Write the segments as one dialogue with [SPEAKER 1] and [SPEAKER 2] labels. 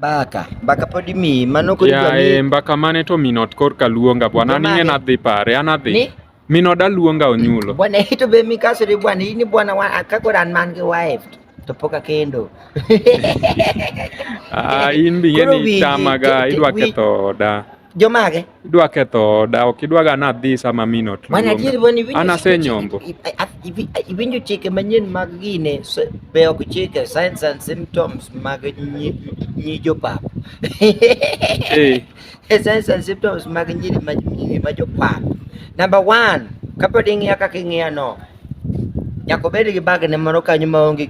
[SPEAKER 1] Mbaka, mbaka pod imiyi, mano kod dwa miyi. mbaka mane
[SPEAKER 2] to minot korka luonga bwana, an ing'e nadhi pare, an adhi. Ni? Minoda luonga onyulo. Bwana hito be mikasore
[SPEAKER 1] bwana, ini bwana wa akakora an man gi wife to pok akendo.
[SPEAKER 2] Ah, in bi ing'e ni itamaga, idwa ketho oda. jomage idwa
[SPEAKER 1] ketho
[SPEAKER 2] oda ok idwaga nadhi sama min ot mana adier boni asenyombo
[SPEAKER 1] iwinjo chike manyien mag gine be ok chike signs and symptoms mag nyi jopap signs and symptoms mag nyiri ma jopap number one kapod ing'iya kaka ing'iya no nyaka obed gi bagne moro kanyo maonge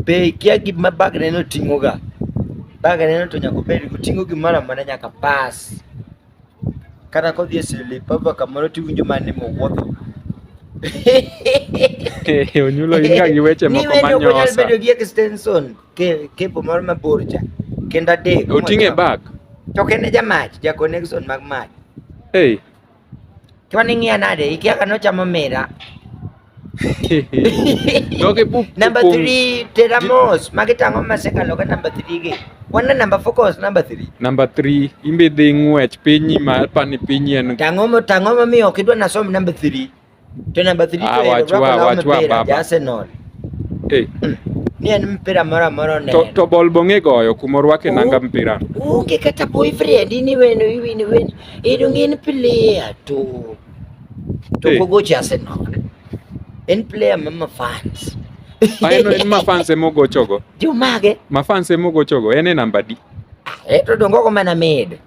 [SPEAKER 1] Be ikia gima bagneno ting'oga? Bagneno to nyaka obed oting'o gimoro amora nyaka pas. Kata kodhi e Slipover kamoro tiwinjo mana ni mowuotho.
[SPEAKER 2] Onyulo in ka gi weche moko manyosa. Ni wendo ok nyal bedo gi
[SPEAKER 1] extension kepo moro mabor cha. Kendo adek. Oting'e bag.
[SPEAKER 2] To kende
[SPEAKER 1] jamach, ja connection mag mach. Hey. twaning'ia nade ikiaka nochamo mira namba 3 tera mos magi tang'o masekalo ka namba 3 gi wana namba focus namba 3 namba 3 imbe
[SPEAKER 2] dhi ng'wech pinyi ma pani pinyi en tang'o tang'o mamiyo
[SPEAKER 1] ok idwa nasom namba 3 Tena badiliko ah, ya Liverpool na mpira ya
[SPEAKER 2] Arsenal.
[SPEAKER 1] Eh. Ni en mpira mara mara ne. To, to bol bonge goyo
[SPEAKER 2] kuma rwake nanga mpira. Unge kata
[SPEAKER 1] boyfriend ni wenu iwi ni wenu. Idungi ni player tu. To eh. gogo cha Arsenal. En player mama fans. Ayo en
[SPEAKER 2] mafans emogochogo. Jumage.
[SPEAKER 1] Mafans emogochogo.
[SPEAKER 2] En e namba di. Ah, eto dongo
[SPEAKER 1] ko mana made.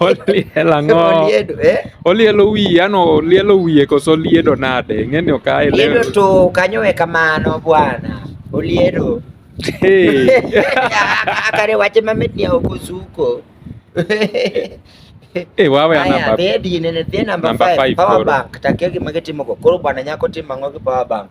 [SPEAKER 2] oliel ang'o Oliedo, eh? olielo wiye ano olielo wiye koso oliedo nade ng'eni ok aelewe Liedo tu kanyowe
[SPEAKER 1] kamano bwana. Oliedo. Hey. Akare wache mamit ni ok osuko.
[SPEAKER 2] Eh, wawe Aya, anamba dhie dine ne dhie namba
[SPEAKER 1] Namba 5 five power koro. bank takia gima gitimo go. Koro bwana nyako timo ang'o gi power bank?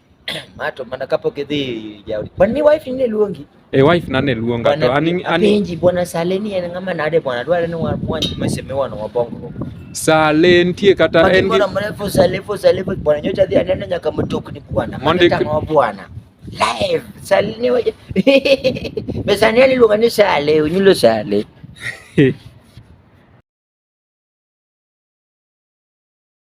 [SPEAKER 1] mato mana kapok idhi jaodi kwan ni wife ne luongi e wife na ne luonga
[SPEAKER 2] to ani ani penji bwana
[SPEAKER 1] Sale ni en ng'ama nade bwana dware ni wamwanj meseme wana wabongo Sale
[SPEAKER 2] nitie kata en gi mrefu Sale fo
[SPEAKER 1] Sale fo bwana nyocha dhi anena nyaka mtokni bwana mondo tango bwana live Sale ni waje pesa ni aliluonga ni Sale unyulo Sale